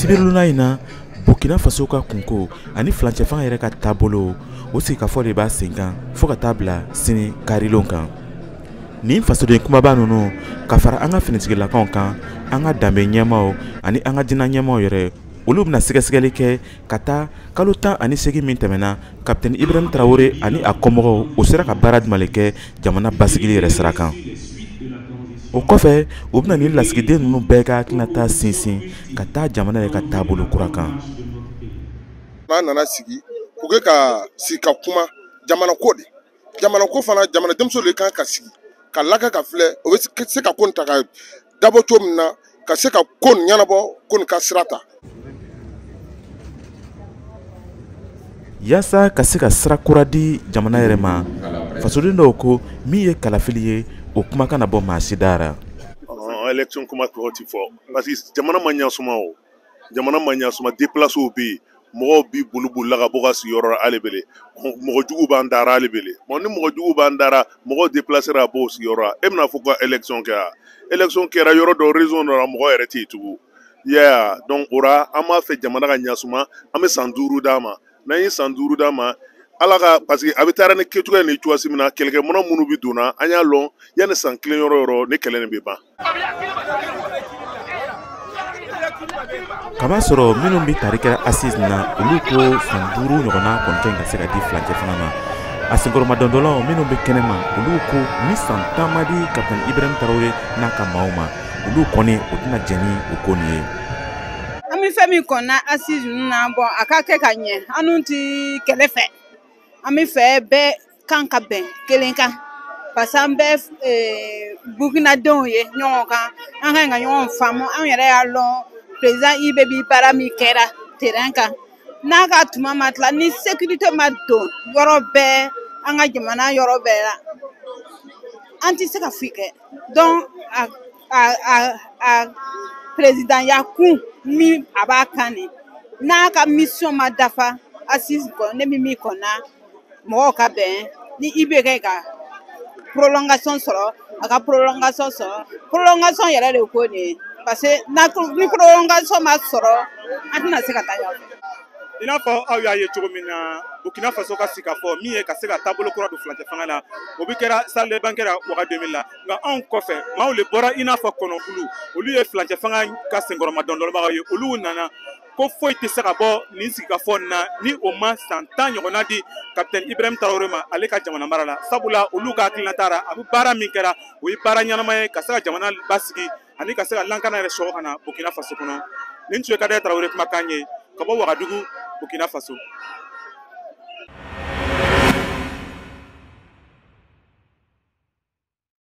sibirilon in na burkina faso ka kunko ani filancɛfanga yɛrɛ ka taabolo o sigikafɔ de b'a senkan fɔɔ ka taa bila sini karilon kan nin fasoden kumaba nunu ka fara an ka finitigilakanw kan an ka danbe ɲɛmaaw ani an ka diinɛ ɲɛmaaw yɛrɛ olu bɛna sɛgɛsɛgɛli kɛ ka taa kalo tan ani segin min tɛmɛna kapitɛni ibrahim tarawele ani a kɔmɔgɔw o sera ka baara jumɛn kɛ jamana basigili yɛrɛ sira kan o kɔfɛ u bɛna nin lasigiden ninnu bɛɛ ka hakilinata sinsin ka taa jamana yɛrɛ ka taabolo kura kan n'an nana sigi u kan ka sigi ka kuma jamana ko de jamana ko fana jamana denmisɛnw de kan ka sigi ka laka ka filɛ o bɛ se ka ko nin ta ka dabɔ cogo min na ka se ka ko nin ɲɛnabɔ ko nin ka sira ta yaasa ka se ka sira kura di jamana yɛrɛ ma fasoden dɔw ko min ye kalafili ye o kuma kana bɔ maa si da ra election kuma tɔgɔ ti fɔ parce que jamana ma ɲasuma o jamana ma ɲasuma deplasiw bɛ yen mɔgɔw bi bolibolila ka bɔ ka sigiyɔrɔ ra ali bele mɔgɔ jugu b'an dara ali bele bon ni mɔgɔ jugu b'an dara mɔgɔw depilasera ka bɔ o sigiyɔrɔ ra e bɛna a fɔ ko election kɛra election kɛra yɔrɔ dɔ région dɔ la mɔgɔ yɛrɛ tɛ yen tugun i y'a ye a donc o ra an b'a fɛ jamana ka ɲasuma an bɛ san duuru d'a ma n'an ye san duuru d'a ma ala ka parce que a bɛ taara ni kɛcogoya ni cogoyasi min na kɛlɛkɛminan minnu bɛ donna an y'a lɔn yanni san kelen yɔrɔ yɔrɔ ni kɛlɛ nin bɛ ban k'a masɔrɔ minnu bɛ tari kɛra assise na olu ko san duuru ɲɔgɔnna kɔni ka ɲi ka se ka di filancɛfanga ma a senkɔrɔmadondonlaw minnu bɛ kɛnɛ ma olu ko ni san tan ma di kapitɛni ibrahim tarawele n'a ka maaw ma olu kɔni o tɛna jɛn ni o ko nin ye an bɛ fɛn min kɔnɔna assise ninnu na bon a ka kɛ ka ɲɛ an dun tɛ kɛlɛ fɛ an b'a fɛ bɛɛ kan ka bɛn kelen kan parce que an bɛɛ eh, bukinadenw ye ɲɔgɔn kan an ka ɲi ka ɲɔgɔn faamu an yɛrɛ y'a lɔn perezidan IB bi baara min kɛra terɛn kan n'a ka tuma ma tila ni sekirite ma don yɔrɔ bɛɛ an ka jamana yɔrɔ bɛɛ la an tɛ se ka foyi kɛ donc a présidentya kun min a b'a kan de n'a ka mission ma dafa assise kɔnɔ ne bɛ min kɔnɔna mɔgɔw ka bɛn ni IB kɛ ka prolongation sɔrɔ a ka prolongation sɔrɔ prolongation yɛrɛ de ko nin ye parce que ni prolongation ma sɔrɔ an tɛna se ka taa ɲɛfɛ. i n'a fɔ aw y'a ye cogo min na burkina faso ka sigikafɔ min ye ka se ka taabolo kura don filancɛfanga la o bɛ kɛra salle de banquet ra waga deux mille la nka anw kɔfɛ maaw le bɔra i n'a fɔ kɔnɔkulu olu ye fulancɛ fanga ka senkɔrɔmadondonbagaw ye olu nana ko foyi tɛ se ka bɔ nin sigikafɔ nin na ni o ma san tan ɲɔgɔnna di kapitɛni ibrahim tarawele ma ale ka jamana mara la sabula olu ka hakilinata ra a bɛ baara min kɛra o ye baara ɲɛnama ye ka se ka jamana basigi ani ka se ka lankana yɛrɛ sɔgɔ ka na burkina faso kɔnɔ nin tun ye kadɛrɛ tarawele kumakan ye ka bɔ wagadugu burkina faso